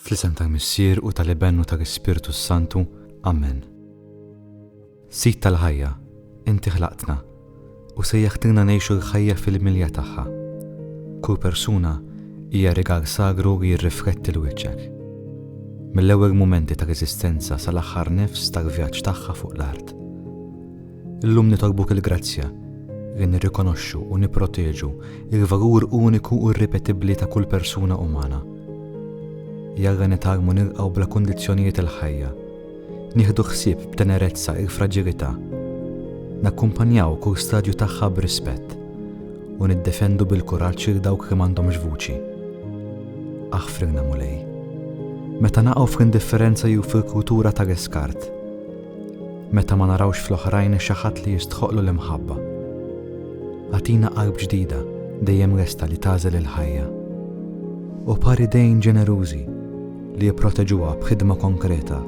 Fl-isem tal-Missier u tal-Iben u tal-Ispirtu s-Santu, amen. Sid tal-ħajja, inti ħlaqtna u sejjaħtilna ngħixu l-ħajja fil-milja tagħha. Kull persuna hija rigal sagru li jirrifletti 'l wiċċek. Mill-ewwel mumenti tal-eżistenza sal-aħħar nifs tal-vjaġġ tagħha fuq l-art. Illum nitolbuk il-grazzja li nirrikonoxxu u nipproteġu l-valur uniku u irripetibbli ta' kull persuna umana. Jalla nitgħallmu nilqgħu bla kundizzjonijiet il-ħajja, nieħdu ħsieb b'tenerezza il-fraġilità, nakkumpanjaw kull stadju tagħha b'rispett u niddefendu bil-kuraġġ lil dawk li m'għandhomx vuċi. Aħfrilna Mulej. Meta naqgħu fl-indifferenza jew fil-kultura tal-iskart, Meta ma narawx fl-oħrajn xi ħadd li jistħoqqlu l-imħabba. Agħtina qalb ġdida dejjem lesta li tagħżel il-ħajja. U par idejn ġenerużi li jipproteġuha b'ħidma konkreta.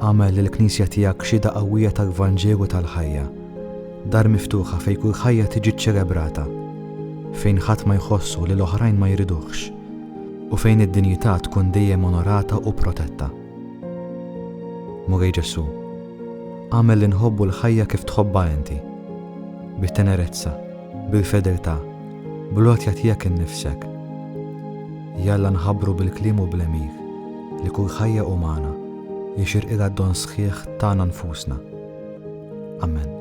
Agħmel lill-Knisja tiegħek xhieda qawwija tal-Vanġelu tal-ħajja, dar miftuħa fejn kull ħajja tiġi ċċelebrata, fejn ħadd ma jħossu li l-oħrajn ma jriduhx, u fejn id-dinjità tkun dejjem onorata u protetta. Mulej Ġesù, agħmel li nħobbu l-ħajja kif tħobbha inti, bit-tenerezza, bil-fedeltà, bl-għotja tiegħek innifsek. Jalla nħabbru bil-kliem u bl-għemil li kull ħajja umana jixirqilha d-don sħiħ tagħna nfusna. Amen.